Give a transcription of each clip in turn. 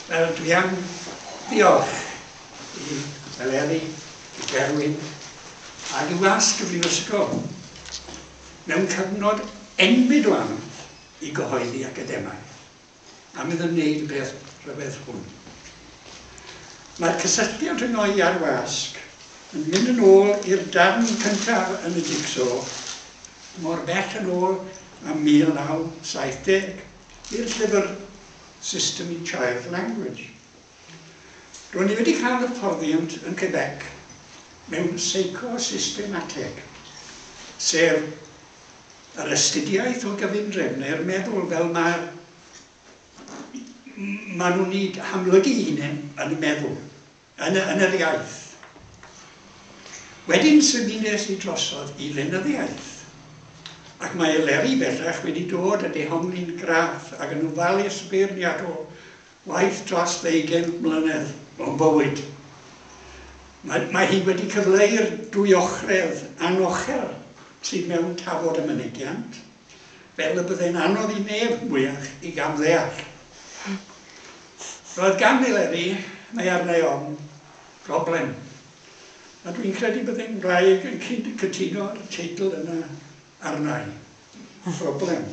Wel, dwi am ddiolch i Eleri, i Gerwyn, ac i wasg y Brifysgol mewn cyfnod enbyd o anodd i gyhoeddi academaidd, am iddo wneud y peth rhyfedd hwn. Mae'r cysylltiad rhyngo'i a'r wasg yn mynd yn ôl i'r darn cyntaf yn y jigsaw, mor bell yn ôl â 1970. i'r llyfr System i Child Language. Ro'n i wedi cael hyfforddiant yn Quebec mewn Seicosistemateg, sef yr astudiaeth o gyfundrefnau'r meddwl fel mae'r maen nhw'n eu hamlygu'i hunain yn y meddwl. yn yn yr iaith. Wedyn symudais i drosodd i lenyddiaeth, ac mae Eleri bellach wedi dod a dehongli'n graff ac yn ofalus beirniadol waith dros ddeugain mlynedd o'n bywyd. Mae mae hi wedi cyfleu'r dwyochredd anochel sydd mewn tafod a mynegiant. fel y byddai'n anodd i neb mwyach ei gamddeall. Roedd gan Eleri, mae arna'i ofn, broblem. A dwi'n credu byddai ngwraig yn cyd cytuno'r teitl yna arna'i. Broblem.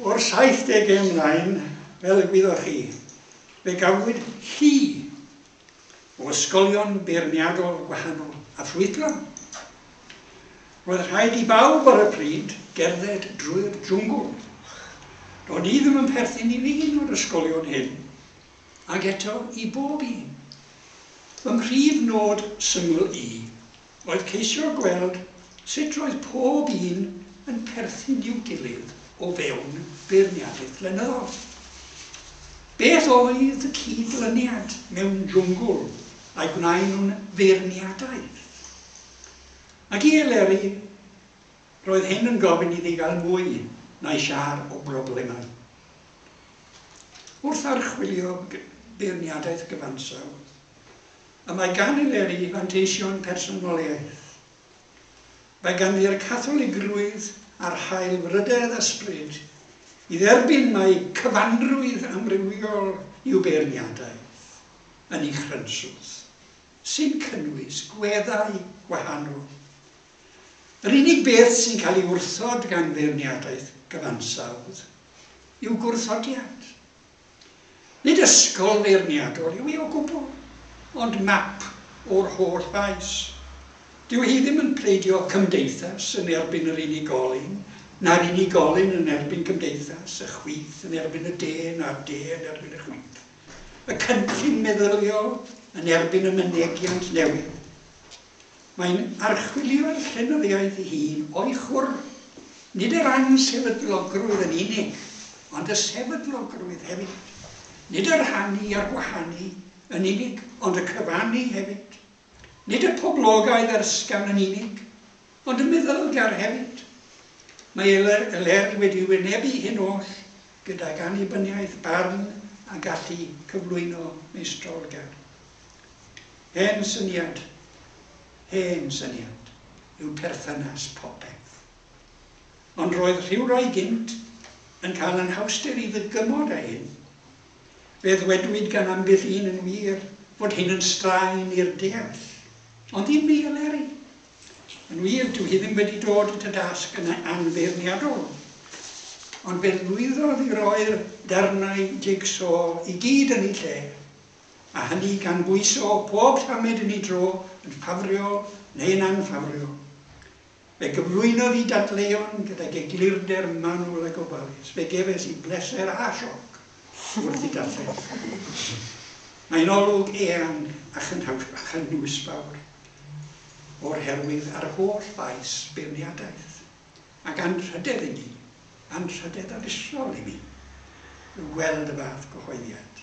O'r 70au ymlaen, fel y gwyddoch chi, fe gafwyd hi o ysgolion beirniadol gwahanol a ffrwydron. Roedd rhaid i bawb ar y pryd gerdded drwy'r jwngl. Do'n i ddim yn perthyn i un o'r ysgolion hyn, ac eto i bob un. Fy mhrif nod syml i oedd ceisio gweld sut roedd pob un yn perthyn i'w gilydd o fewn beirniadaeth flynyddol. Beth oedd y cyd-lyniad mewn jwngl a'i gwnaen nhw'n feirniadaeth? Ac i Eleri, roedd hyn yn gofyn iddi gael mwy na'i siâr o broblemau. Wrth archwilio beirniadaeth gyfansawdd, y mae gan y Leri fanteision personoliaeth. Mae ganddi'r Catholigrwydd a'r haelfrydedd ysbryd i dderbyn mai cyfanrwydd amrywiol yw beirniadaeth yn ei chrynswth, sy'n cynnwys gweddau gwahanol. Yr unig beth sy'n cael ei wrthod gan feirniadaeth gyfansawdd yw gwrthodiad. Nid ysgol feirniadol yw hi o gwbl, ond map o'r holl faes. Dyw hi ddim yn pleidio cymdeithas yn erbyn yr unigolyn, na'r unigolyn yn erbyn cymdeithas, y chwith yn erbyn y de, na'r de yn erbyn y chwith, y cynllun meddyliol yn erbyn y mynegiant newydd. Mae'n archwilio ei llenyddiaeth ei hun o'i chwr, nid er ansefydlogrwydd yn unig, ond y sefydlogrwydd hefyd, nid y rhannu a'r gwahanu yn unig, ond y cyfannu hefyd, nid y poblogaidd a'r ysgafn yn unig, ond y meddylgar hefyd. Mae Elerdd wedi wynebu hyn oll gydag annibyniaeth, barn a gallu cyflwyno meistrolgar. Hen syniad, hen syniad yw perthynas popeth. Ond roedd rhywrai gynt yn cael anhawsder i ddygymod â hyn. Fe ddwedwyd gan ambell un yn wir fod hyn yn straen i'r deall. Ond ddim fi, Eleri. Yn wir, dyw hi ddim wedi dod at y dasg yn anfeirniadol. Ond fe lwyddodd i roi'r darnau jig-so i gyd yn eu lle. a hynny gan bwyso pob tamed yn ei dro yn ffafriol neu yn anffafriol. Fe gyflwynodd i dadleuon gydag eglurder manwl a gofalus. Fe gefais i bleser a sioc wrth ei darllen. Mae'n olwg eang a chynhwysfawr o'r herwydd a'r holl faes beirniadaeth, ac anrhydedd i mi, anrhydedd abisol i mi, yw gweld y fath gyhoeddiad.